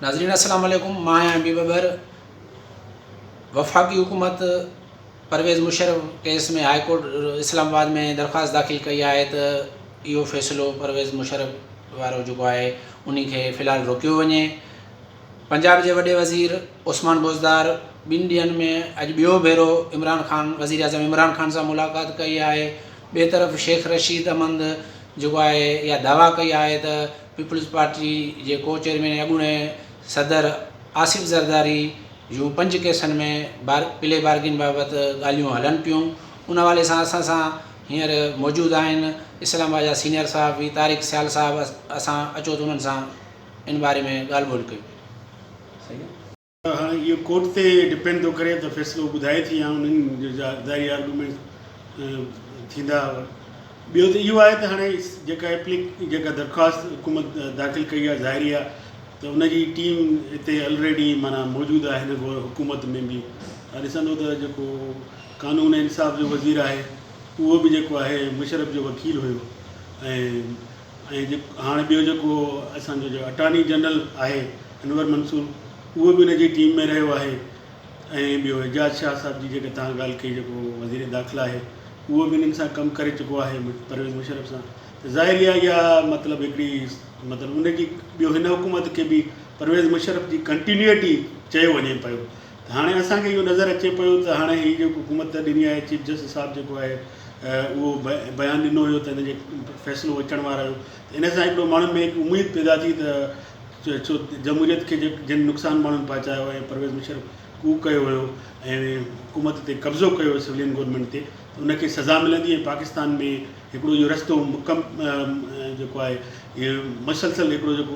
ناظرين السلام عليڪم مان آهيان ايم پي ٻٻر وفاقي حڪومت Pervez Musharraf case ۾ high court Islamabad ۾ درخواست داخل ڪئي آهي ته اهو فيصلو پرويز مشرف وارو جيڪو آهي انهي کي في الحال روڪيو وڃي پنجاب جي وڏي وزير عثمان بوزدار ٻن ڏينهن ۾ اڄ ٻيو ڀيرو عمران خان وزير اعظم عمران خان سان ملاقات ڪئي آهي ٻي طرف شيخ رشيد احمد جيڪو آهي اها دعويٰ ڪئي آهي ته پيپلز پارٽي جي ڪو چيئرمين ۽ اڳوڻي صدر آصف زرداري جون پنج ڪيسن ۾ بار پلي بارگين بابت ڳالهيون هلن پيون ان حوالي سان اسان سان هينئر موجود آهن اسلام آباد جا سينئر صحافي طارق سيال صاحب اسان اچو ته انهن سان ان باري ۾ ڳالهه ٻولهه ڪيون ته هاڻي اهو ڪورٽ تي ڊپينڊ ٿو ڪري ته فيصلو ٻڌائي ٿي يا انهن جا ظاهري آرگيومينٽس ٿيندا. ٻيو ته اهو آهي ته هاڻي جيڪا ايپليڪ جيڪا درخواست حڪومت داخل ڪئي آهي ظاهريا ته ان جي ٽيم اتي الريڊي معنيٰ موجود آهي هن گهور حڪومت ۾ به تها ڏسندو ته جيڪو قانون ۽ انصاف جو وزير آهي اهو به جيڪو آهي مشرف جو وڪيل هيو ۽ ۽ هاڻ ٻيو جيڪو اسان جو اٽارني جنرل آهي انور منصور اهو به ان جي ٽيم ۾ رهيو آهي ۽ ٻيو اعجاز شاهه صاحب جي جيڪي تان ڳالهه ڪئي جيڪو وزير داخلا آهي اهو به انهن سان ڪم ڪري چڪو آهي پرويز مشرف سان ته ظاهر اها اها مطلب هڪڙي مطلب ان جي ٻيو هن حڪومت کي به پرويز مشرف جي ڪنٽينيوٽي چيو وڃي پيو ته هاڻي اسان کي اهو نظر اچي پيو ته هاڻي هي جيڪو حڪومت ڏني آهي چيف جسٽس صاحب جيڪو آهي اهو بيان ڏنو هيو ته هن جي فيصلو اچڻ وارو هيو ته ان سان هڪڙو ماڻهن ۾ هڪ اميد پيدا ٿي ته ڇو جمهوريت کي جن نقصان ماڻهن پهچايو ۽ پرويز مشرف ڪوء ڪيو هيو ۽ حڪومت تي قبضو ڪيو هيو سولين گورنمينٽ تي ته ان کي سزا ملندي ۽ پاڪستان ۾ هڪڙو اهو رستو مڪم جيڪو آهي مسلسل هڪڙو جيڪو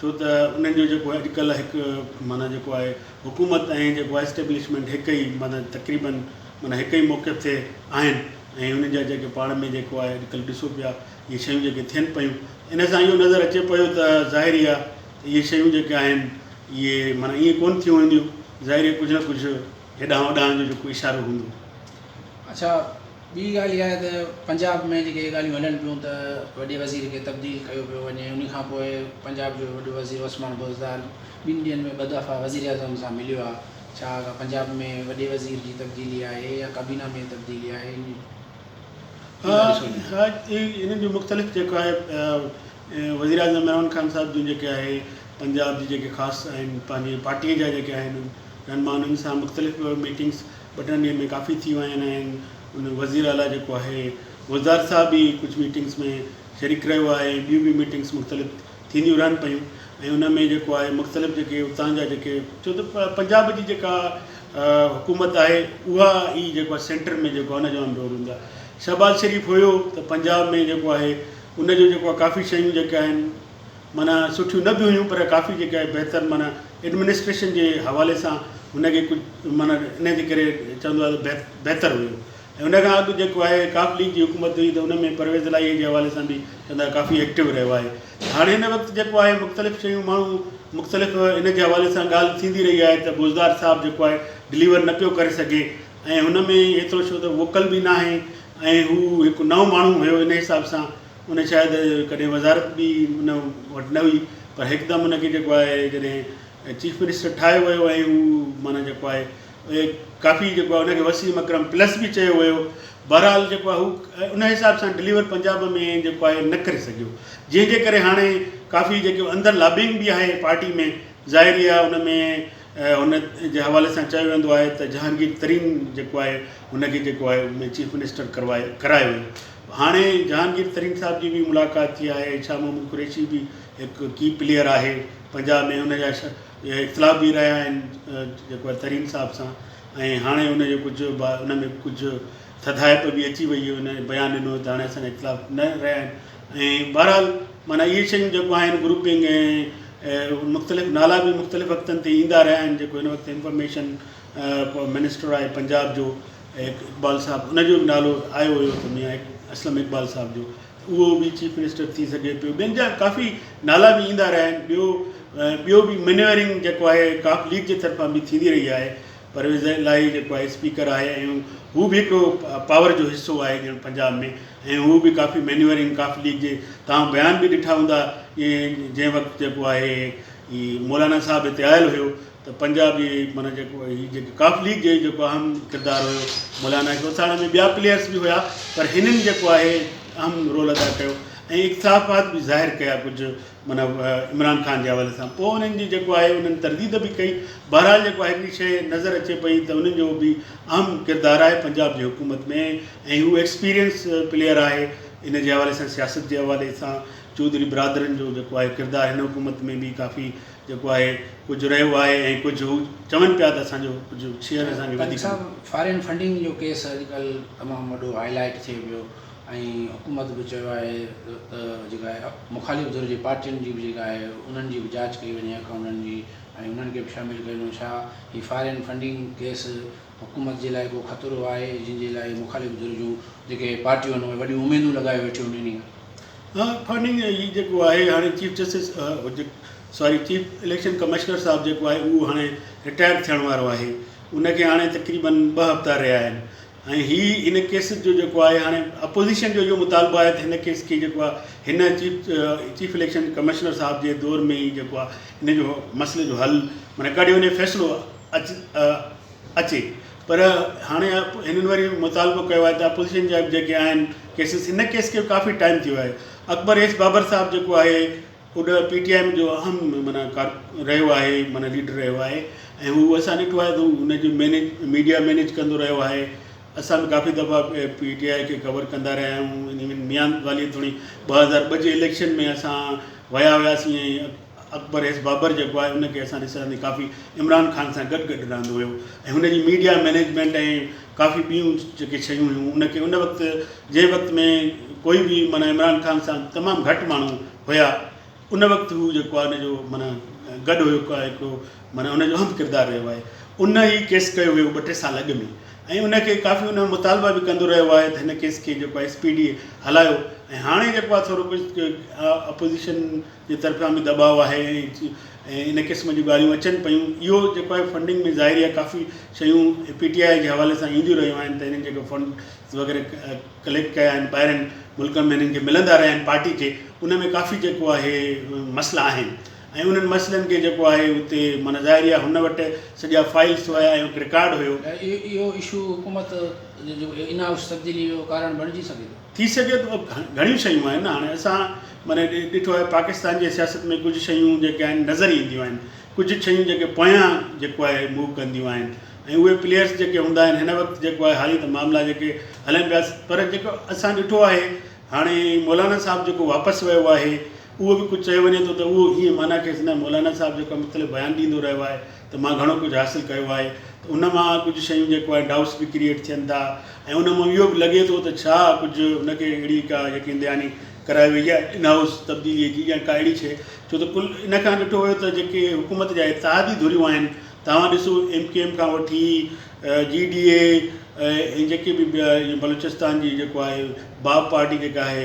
ڇو ته انهن جو جيڪو اڄ ڪلهه هڪ معنيٰ جيڪو آهي حڪومت ۽ جيڪو آهي اسٽيبلشمينٽ هڪ ئي معنيٰ تقريباً معنيٰ هڪ ئي موقف تي آهن ۽ انهن جا جيڪي پاڻ ۾ جيڪو آهي اڄ ڪلهه ڏسو پيا اهي شيون جيڪي ٿين پيون ان سان اهو نظر اچي پيو ته ظاهر ئي آهي ته اهي شيون جيڪي آهن اهي معنيٰ ائين ڪونه ٿيون وينديون ظاهر ئي ڪجهه نه ڪجهه هيڏانهن هوڏانهن جو جيڪو اشارو هوندو. اڇا ٻي ڳالهه اها آهي ته پنجاب ۾ جيڪي اهي ڳالهيون هلن پيون ته وڏي وزير کي تبديل ڪيو پيو وڃي ان کان پوء پنجاب جو وڏو وزير عثمان بوزدار ٻن ڏينهن ۾ ٻه دفعا وزيراعظم سان مليو آهي ڇا اها پنجاب ۾ وڏي وزير جي تبديلي آهي يا ڪابينا ۾ تبديلي آهي ان ها انهن جو مختلف جيڪو آهي وزيراعظم عمران خان صاحب جون جيڪي آهي پنجاب جي جيڪي خاص آهن پنهنجي پارٽي جا جيڪي آهن رهنما انهن سان مختلف ميٽنگس ٻه ٽن ڏينهن ۾ ڪافي ٿي ويا آهن ۽ ان وزير اعلٰي جيڪو آهي وزدار صاحب به ڪجهه ميٽنگس ۾ شريڪ رهيو آهي ۽ ٻيون به ميٽنگس مختلف ٿينديون رهن پيون ۽ ان ۾ جيڪو آهي مختلف جيڪي اتان جا جيڪي ڇو ته پنجاب جي جيڪا حڪومت آهي اها ئي جيڪو آهي سينٽر ۾ جيڪو ان جو اهم رول هوندو آهي شهباز شريف هيو ته پنجاب ۾ جيڪو آهي ان جو جيڪو آهي ڪافي شيون جيڪي آهن معنيٰ سٺيون نه به هيون پر ڪافي جيڪا آهي بهتر معنيٰ ايڊمنسٽريشن جي حوالي سان هن کي ڪجهه معنيٰ ان جي ڪري چوندو آهي ته بهتر هيون ۽ ان کان اڳ جيڪو آهي ڪاف ليگ جي حڪومت هئي ته ان ۾ پرويز الاهي جي حوالي سان به چوندا ڪافي ايڪٽو رهيو آهي هاڻي هن وقت جيڪو آهي مختلف شيون ماڻهو مختلف ان جي حوالي سان ڳالهه ٿيندي رهي آهي ته بوزدار صاحب جيڪو آهي ڊليور نه پيو ڪري سگهي ۽ هن ۾ ايترو ڇو ته ووڪل به ناهي ۽ هو هڪ نئون ماڻهو هيو ان حساب سان ان شايد ڪڏهن وزارت به ان وٽ نه هئي پر هڪدم ان کي جيڪو آهي جڏهن چيف منسٽر ٺاهيو ويو ۽ هو معنيٰ جيڪو آهي اهي ڪافي جيڪو آهي ان کي وسيم اڪرم پلس به چيو ويو بهرحال جيڪو آهي هو ان حساب سان ڊليور پنجاب ۾ جيڪو آهي نه ڪري سگهيو جنهن جي ڪري هاڻي ڪافي جيڪو اندر لابنگ به آهي پارٽي ۾ ظاهر ئي آهي ان ۾ ان جي حوالي سان چيو ويندو آهي ته جهانگير ترين جيڪو آهي ان کي جيڪو آهي چيف منسٽر ڪروايو ڪرايو ويو هاڻي جهانگير ترين صاحب جي به ملاقات ٿي آهي شاهه محمد قريشي به هڪ ڪي پليئر آهي پنجاب ۾ ان جا اختلاف به رهيا آهن جيڪو آهي ترين صاحب سان ۽ هاڻي ان جو ڪجهه ان ۾ ڪجهه ٿڌائپ به اچي وئي ان بيان ڏنو ته هاڻي اسان اختلاف نه رهيا آهن ۽ بهرحال معنيٰ اهي شيون جيڪو آهن گروپنگ ۽ مختلف نالا به مختلف وقتن تي ايندا رهيا آهن جيڪو هن وقت انفارميشن منسٽر آهي پنجاب جو اقبال صاحب ان جو به نالو آيو ويو ته ميان اسلم اقبال صاحب جو اهو به چيف منسٽر ٿي سگهي پيو ٻين جا ڪافي نالا به ايندا رهيا آهن ٻيو ٻيو به منيورنگ جيڪو آهي ڪاف ليگ جي طرفان به ٿيندي رهي آهي پرويز الاهي جيڪو آهي اسپيڪر آهي ۽ هو به هڪڙو پاور جو حصو آهي ڄڻ پنجاب ۾ ۽ هو به ڪافي منيورنگ ڪاف ليگ جي تان بيان به ڏٺا هوندا جنهن وقت جيڪو آهي مولانا صاحب هتي آيل هيو ته پنجابي معنيٰ جيڪو هي جيڪي ڪاف ليگ جي جيڪو اهم ڪردار هيو مولانا اقبال ٿاڻ ۾ ٻيا پليئرس به هيا پر هنن جيڪو آهي اهم رول ادا ڪيو ۽ اقتافات به ظاهر ڪيا ڪجهه معنيٰ عمران خان جي حوالي سان پوء انهن جي جيڪو آهي انهن ترديد به ڪئي بهرحال جيڪو آهي هڪڙي شيء نظر اچي پئي ته انهن جو به اهم ڪردار آهي پنجاب جي حڪومت ۾ ۽ هو ايڪسپيرينس پليئر آهي ان جي حوالي سان سياست جي حوالي سان چوڌري برادرن جو جيڪو آهي ڪردار هن حڪومت ۾ به ڪافي جيڪو آهي ڪجهه رهيو آهي ۽ ڪجهه هو چون پيا ته اسان جو ڪجهه شيئر اسان کي وڌيڪ ڏيو. سائين صاحب فارين فنڊنگ جو ڪيس اڄ ڪلهه تمام وڏو هائي لائيٽ ٿئي پيو ۽ حڪومت به چيو آهي ته جيڪا آهي مخالف ڌر جي پارٽين جي به جيڪا آهي انهن جي به جاچ ڪئي وڃي اڪائونٽن جي ۽ انهن کي به شامل ڪيو وڃي ڇا هي فارين فنڊنگ ڪيس حڪومت جي لاء ڪو خطرو آهي جن جي لاء مخالف ڌر جون جيڪي پارٽيون آهن اهي وڏيون اميدون لڳايو ويٺيون آهن انهي ها فنڊنگ هي جيڪو آهي هاڻي چيف جسٽس ساري چيف اليڪشن ڪمشنر صاحب جيڪو آهي اهو هاڻي رٽائر ٿيڻ وارو آهي ان کي هاڻي تقريبا ٻه هفتا رهيا آهن ۽ هي ان ڪيس جو جيڪو آهي هاڻي اپوزيشن جو اهو مطالبو آهي ته هن ڪيس کي جيڪو آهي هن چيف چيف اليڪشن ڪمشنر صاحب جي دور ۾ ئي جيڪو آهي هن جو مسئلي جو حل معنی ڪڍيو وڃي فيصلو اچي پر هاڻي هنن وري مطالبو ڪيو آهي ته اپوزيشن جا جيڪي آهن ڪيسز هن ڪيس کي ڪافي ٽائيم ٿي ويو آهي اڪبر ايس بابر صاحب جيڪو آهي اڏ پي ٽي آئي ايم جو اهم معنيٰ ڪار رهيو آهي معنيٰ ليڊر رهيو آهي ۽ هو اسان ڏٺو آهي ته هن جو مينيج ميڊيا مينيج ڪندو رهيو آهي اسان به ڪافي دفعا پي ٽي آئي کي ڪور ڪندا رهيا آهيون ان ميان والي توڻي ٻه هزار ٻه جي اليڪشن ۾ اسان ويا هياسين ۽ اڪبر ايس بابر جيڪو آهي ان کي اسان ڏسڻ ۾ ڪافي عمران خان سان گڏ گڏ رهندو هيو ۽ هن جي ميڊيا مينيجمينٽ ۽ ڪافي ٻيون جيڪي شيون هيون ان کي ان وقت جنهن وقت ۾ ڪوئي به معنيٰ عمران خان سان تمام گهٽ ماڻهو هيا ان وقت هو جيڪو آهي ان جو معنيٰ گڏ هيو هڪڙو معنيٰ ان جو اهم ڪردار رهيو آهي ان هي ڪيس ڪيو هيو ٻه ٽي سال اڳ ۾ ۽ ان کي ڪافي ان مطالبا به ڪندو رهيو آهي ته هن ڪيس کي جيڪو آهي ايس پي ڊي هلايو ۽ هاڻي جيڪو آهي ٿورو ڪجهه اپوزيشن جي طرفيان به دٻاء آهي ۽ ان قسم جون ڳالهيون اچن پيون اهو جيڪو آهي فنڊنگ ۾ ظاهري آهي ڪافي شيون پي ٽي آء جي حوالي سان اينديون رهيون آهن ته هنن جيڪو فنڊز وغيره ڪليڪٽ ڪيا آهن ٻاهرين ملڪن ۾ هنن کي ملندا رهيا آهن پارٽي کي ان ۾ ڪافي جيڪو آهي مسئلا آهن ۽ انهن مسئلن کي جيڪو آهي اتي معنيٰ ظاهري آهي هن وٽ سڄا فائلز هيا ۽ هڪ رڪارڊ هيو. اهو اشو حڪومت جي ان هائوس تبديلي جو ڪارڻ بڻجي سگهي ٿو؟ ٿي سگهي ٿو گهڻيون شيون آهن نه هاڻي اسان معنيٰ ڏٺو آهي پاڪستان جي سياست ۾ ڪجهه شيون جيڪي آهن نظر اينديون آهن ڪجهه شيون جيڪي پويان جيڪو آهي موو ڪنديون آهن ۽ اهي پليئرس جيڪي هوندا آهن هن وقت جيڪو آهي هاري ته معاملا جيڪي هلن پيا پر جيڪو اسان ڏٺو آهي هاڻي مولانا صاحب جيڪو واپس ويو آهي اهو به ڪجهه چيو وڃي ٿو ته اهو هيئن معنيٰ کيس نه مولانا صاحب جيڪو مختلف بيان ڏيندو رهيو آهي ته مان گهڻو ڪجهه حاصل ڪيو آهي ته ان مان ڪجهه شيون جيڪو آهي ڊائوٽس به ڪريئيٽ ٿين ٿا ۽ ان مان اهو به لڳي ٿو ته ڇا ڪجهه ان کي اهڙي ڪا يقين دهاني ڪرائي وئي آهي ان هائوس تبديلي جي يا ڪا اهڙي شيء ڇو ته ڪل ان کان ڏٺو ويو ته جيڪي حڪومت جا اتحادي ڌريون آهن توهان ڏسو ايم ڪيو ايم کان وٺي جي ڊي اي ۽ جيڪي به ٻيا بلوچستان جي جيڪو آهي باپ پارٽي جيڪا آهي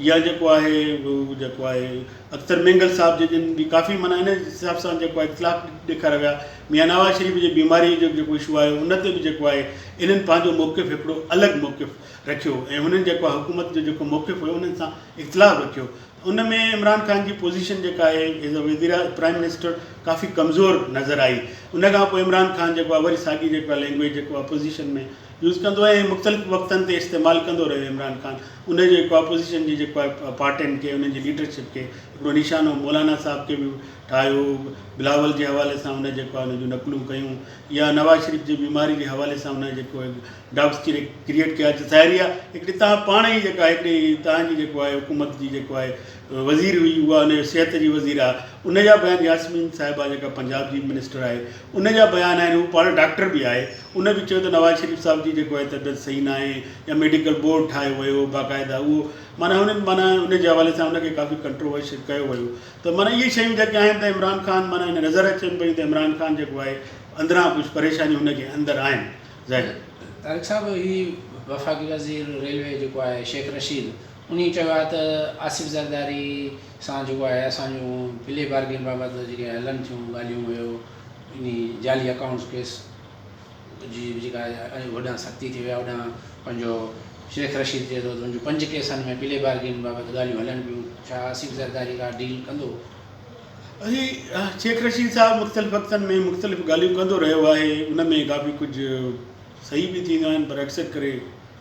يا جيڪو آهي هو جيڪو آهي اختر مينگل صاحب جي جن جي ڪافي معنيٰ ان حساب سان جيڪو آهي اختلاف ڏيکاريا ويا ميان نواز شريف جي بيماري جو جيڪو اشو آهي ان تي به جيڪو آهي انهن پنهنجو موقف هڪڙو الڳ موقف رکيو ۽ هنن جيڪو آهي حڪومت جو جيڪو موقف هيو انهن سان اختلاف رکيو ان ۾ عمران خان جي پوزيشن جيڪا آهي ايز اي وزير پرائم منسٽر ڪافي ڪمزور نظر آئي ان کان پوء عمران خان جيڪو آهي وري ساڳي جيڪو آهي لينگويج جيڪو آهي اپوزيشن ۾ يوز ڪندو ۽ مختلف وقتن تي استعمال ڪندو رهيو عمران خان ان جو هڪ اپوزيشن جي جيڪو آهي پارٽين کي انهن جي ليڊرشپ کي هڪڙو نشانو مولانا صاحب کي به ٺاهيو هو بلاول جي حوالي سان هن جيڪو آهي ان جون نقلون ڪيون يا نواز شريف جي بيماري جي حوالي سان هن جيڪو ڊاڪٽس ڪري ڪريئيٽ ڪيا اڄ ظاهري آهي هڪڙي تان پاڻ ئي جيڪا هڪڙي تان جي جيڪو آهي حڪومت جي جيڪو آهي وزير هئي اها ان جو صحت جي وزير آهي ان جا بيان ياسمين صاحبه جيڪا پنجاب جي منسٽر آهي ان جا بيان آهن هو پاڻ ڊاڪٽر به آهي ان به چيو ته نواز شريف صاحب جي جيڪو آهي طبيعت صحيح ناهي يا ميڊيڪل بورڊ ٺاهيو ويو هو باقاعده اهو معنيٰ هنن معنيٰ ان جي حوالي سان ان کي ڪافي ڪنٽروورشل ڪيو ويو ته معنيٰ اهي شيون جيڪي آهن ته عمران خان معنيٰ هن نظر اچن پيون ته عمران خان جيڪو آهي اندران ڪجهه پريشانيون هن جي اندر آهن ظاهر طارق صاحب هي وفاقي وزير ريلوي جيڪو آهي شيخ رشيد انهيء چيو آهي ته آصف زرداري سان جيڪو آهي اسان جون پلي بارگين بابت جيڪي هلن ٿيون ڳالهيون اهو انهي جعلي اڪائونٽس ڪيس جي به جيڪا آهي هوڏانهن سختي ٿي وئي آهي هوڏانهن پنهنجو شيخ رشيد چئي ٿو ته منهنجون پنج ڪيسن ۾ پلي بارگين بابت ڳالهيون هلن پيون ڇا آصف زرداري ڪا ڊيل ڪندو؟ اهي شيخ رشيد صاحب مختلف وقتن ۾ مختلف ڳالهيون ڪندو رهيو آهي ان ۾ ڪافي ڪجهه صحيح به ٿينديون آهن پر اڪثر ڪري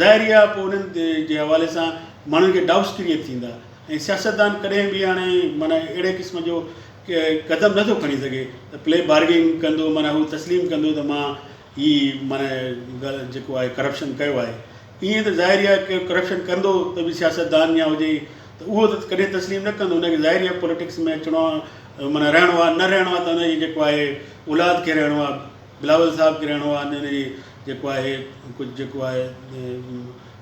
ظاهري آهي پوء انهن جي حوالي سان ماڻهن کي ڊائوٽس ڪريئيٽ ٿيندا ۽ سياستدان ڪڏهن به هاڻي معنيٰ اهڙي قسم جو قدم نٿو کڻي سگهي ته پلي بارگينگ ڪندو معنيٰ هو تسليم ڪندو ته مان هي معنيٰ ڳالهه جيڪو آهي ڪرپشن ڪيو آهي ائين ته ظاهري آهي ڪير ڪرپشن ڪندو ته به سياستدان يا هجي ته اهو ته ڪڏهن تسليم نه ڪندو ان کي ظاهري آهي پوليٽڪس ۾ اچڻو آهي معنيٰ رهڻو آهي نه رهڻو آهي ته ان جي جيڪو آهي اولاد کي رهڻو آهي بلاول صاحب کي رهڻو آهي ان جي جيڪو آهي ڪجهه جيڪو آهي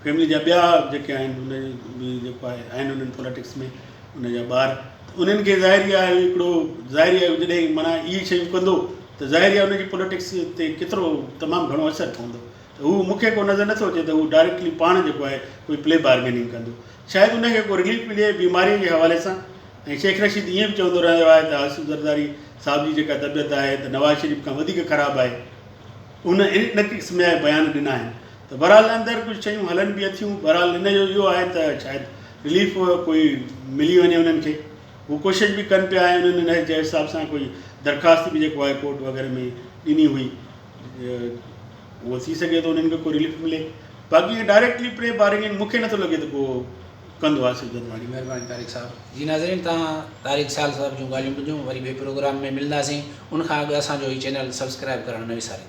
فيملي جا ٻيا جيڪي آهن ان جي جيڪو آهي آهن انهن پوليٽڪس ۾ ان جا ٻار ته انهن کي ظاهري آهي هڪڙو ظاهري آهي جڏهن معنيٰ اهي شيون ڪندو ته ظاهري آهي ان جي پوليٽڪس تي ڪيترو تمام گهڻو اثر پوندو ته هو مون کي ڪو نظر نٿو اچي ته هو ڊائريڪٽلي پاڻ جيڪو آهي ڪوئي پلي بارگيننگ ڪندو شايد ان کي ڪو رليف ملي بيماريء جي حوالي سان ۽ شيخ رشيد ائين به چوندو رهيو آهي ته آصف زرداري صاحب جي جيڪا طبيعت آهي ته نواز شريف کان وڌيڪ خراب آهي هن ان قسم جا بيان ڏنا آهن ته بهرحال اندر ڪجهه شيون هلن به اٿيون بهرحال ان جو اهو آهي ته شايد رليف ڪوئي ملي وڃي انهن کي هو ڪوشش به ڪن پيا ۽ انهن ان جي حساب سان ڪوئي درخواست به جيڪو آهي ڪورٽ وغيره ۾ ڏني هئي اهو ٿي سگهي ٿو انهن کي ڪو رليف ملي باقي اهي ڊائريڪٽلي پري بارنگ آهن مون کي نٿو لڳي ته ڪو ڪندو آصف جدواڻي مهرباني طارق صاحب. جي ناظرين تهان طارق سال صاحب جون ڳالهيون ٻڌيون وري ٻئي پروگرام ۾ ملنداسين ان کان اڳ اسان جو هي چينل سبسڪرائب ڪرڻ نه وساريو.